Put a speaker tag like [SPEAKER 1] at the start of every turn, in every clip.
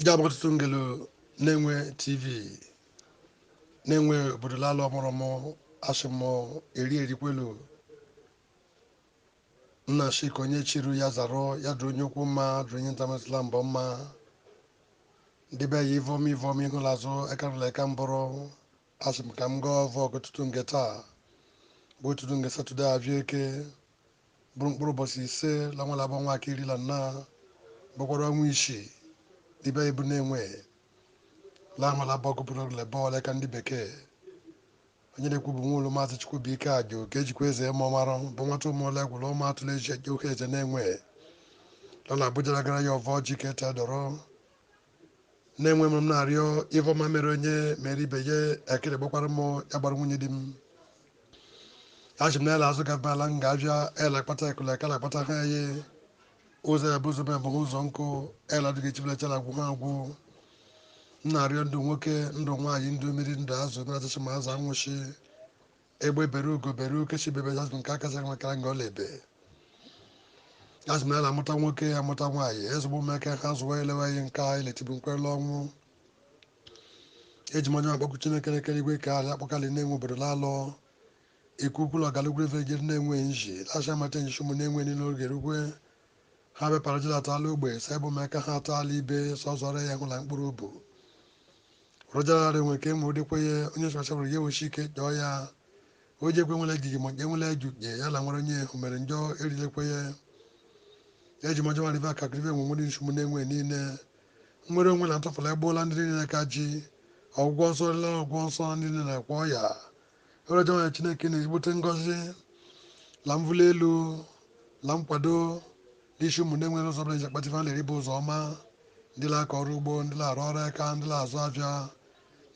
[SPEAKER 1] jabụ ụtụtụ ngelu Nenwe TV Nenwe obodo lala ọmụrụmụ ashị mụ eri erikwelu nna shị ka onye chiru ya zara ya dụrụ onye okwu mma dụrụ onye ntamatụla mbọ mma ndị be ya ivom ivom ịṅụla azụ ekarụla eka mbụrụ ashị m ka m gọọ ọvọ ke ụtụtụ nge taa bụ ụtụtụ nge satọde avịa Eke bụrụ mkpụrụ ụbọchị ise la ọnwa la bụ ọnwa ke iri la nna bụkwara ọnwa isii ibe ibu Nenwe la ọnwa labọ gụpụrụ lebọ ole ka ndị bekee onye na-ekwu bụ nwa ụlọ maazị Chukwubuike Ajo ka ejikwa eze eme ọmara bụ nwata ụmụọla egwụrụ ụmụ atụrụ eji eje Uhueze Nenwe lọ na Abuja gara ya ọvọ ji ka ete dọrọ Nenwe m na-arịọ ive ọma mere onye mere ibe ya ekele gbakwara m ya gbara nwunye di m ashị m na-ele azụ gaba ala m ga-abịa ele akpata ekele ekele akpata ha ya ụzọ ya bụ ụzọ m abụghị ụzọ nkụ ele adịghị echibilachara agwụ ha agwụ m na-arịọ ndụ nwoke ndụ nwaanyị ndụ mmiri ndụ azụ mmiri achịcha ma azụ anwụchi Egbe bere ugo bere nke shị ibe ebe ashị m na ka akasị nwa kara nga ọ la-ebe ashị m na amụta nwoke ya amụta nwaanyị ezigbo ụmụaka ha zụwa elewa ihe nke a iletibu nkwere ọnwụ eji m ọjị akpọkụ Chineke nna kere igwe kee ala akpọkụ ali Nenwe obodo lalụ ikwu ukwula ọgalugwu ife jiri Nenwe nji lasha mata n'ishi ụmụ Nenwe nile oge rugwe Ha bịakwara Juda atụala ogbe sa ebe ụmụaka ha atụala ibe sọzọrọ ya hụla mkpụrụ ubu rụjararị nwere ka enwe dịkwa ya onye sọchabụrụ ya ewechi ike jọọ ya o ji ekwe nwere ejiji ma enwere eju nye ya la nwere onye hụ mere njọ erilekwe ya eji m ọjị ọma rive akakụ rive nwere nsogbu Nenwe niile nwere onwe na ntụfụla egboola ndị niile ka ji ọgwụgwọ nsọ rela ọgwụgwọ nsọ ndị niile na-akwọ ọya Ewere ọjị ọma yọọ Chineke nna ezigbote ngọzi la mvụli elu la nkwado l'ishi ụmụ Nenwe ụzọ ọbụla eji akpata ife a na-eri bụ ụzọ ọma ndị la-akọ ọrụ ugbo ndị la-arụ ọrụ aka ndị la-azụ avịa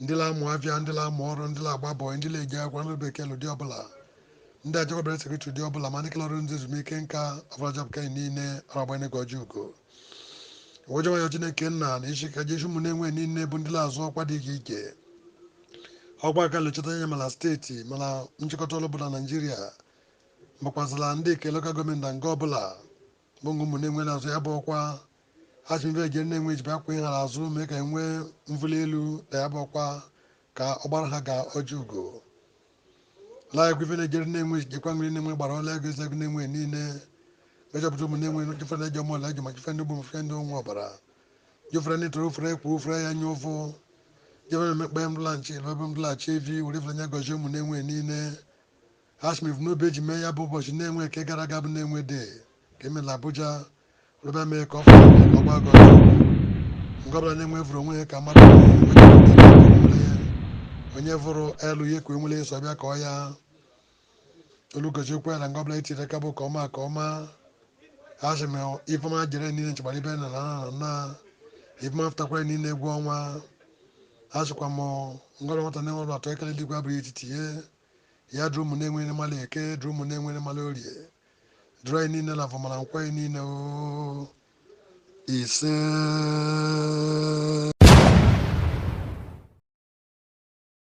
[SPEAKER 1] ndị la-amụ avịa ndị la-amụ ọrụ ndị la-agba bọị ndị la-eje akwụkwọ ndị bekee l'ụdị ọbụla ndị ajakwabere sekretrị ụdị ọbụla ma ndị kele ọrụ ndị ezumike nka ọbụla jọpụta niile aragbanyeghị ọjị ugo ọjị ọma yọọ Chineke nna na isi ka Jesu ụmụ Nenwe niile bụ ndị la-azọ ọkwa dị iche iche ọkwa aka lechọta anya ma la steeti ma la nchịkọta ọrụ ọbụla Naijiria makwazila ndị nke lokal gọọmenti na nga ọbụla bụ ngụ ụmụ Nenwe na-azọ ya bụ ọkwa ha si mbe jere Nenwe ejibe akwa ihe ha la-azọ mee ka e nwee mvụli elu na ya bụ ọkwa ka ọ gbara ha ga ọjị ugo laegwu ive na-ejere Nenwe jekwa nri Nenwe gbara ọla ego ezegwu Nenwe niile mejọpụta ụmụ Nenwe jụfe na eji ọmụọla eji ma jụfe ndị gburu fe ndị ụmụ ọbara jụfere ndị toro ofere ekwu ofere ya nye ụfụ jụfe na emekpa ya mdụlaghachi elu ebe mdụlaghachi evi were ifere nye gọzie ụmụ Nenwe niile ashị m ive n'obi eji mee ya bụ ụbọchị Nenwe nke gara aga bụ Nenwe day ka eme la Abuja Rube mee ka ọ fọrọ ọ gbagọ. Nke ọbụla na-enwe vụrụ onwe ya ka mmadụ. Onye vụrụ elu ya ka o nwere ya sọ bịa ka ọ ya. Olugozi okwu ya na nke ọbụla e tiri aka bụ ka ọma ka ọma. A sị m ifeọma jere niile nchegbara ibe nne na nna ifeọma fụtakwara niile egwu ọnwa. A sịkwa m nke ọbụla nwata na-enwe ọrụ atọ ekele dịkwa abụrụ etiti ya. Ya duru ụmụ na-enwe nri ma la Eke, duru ụmụ na-enwe nri ma la Orie, duru anyị niile n'Avọ ma la Nkwọ anyị niile o ise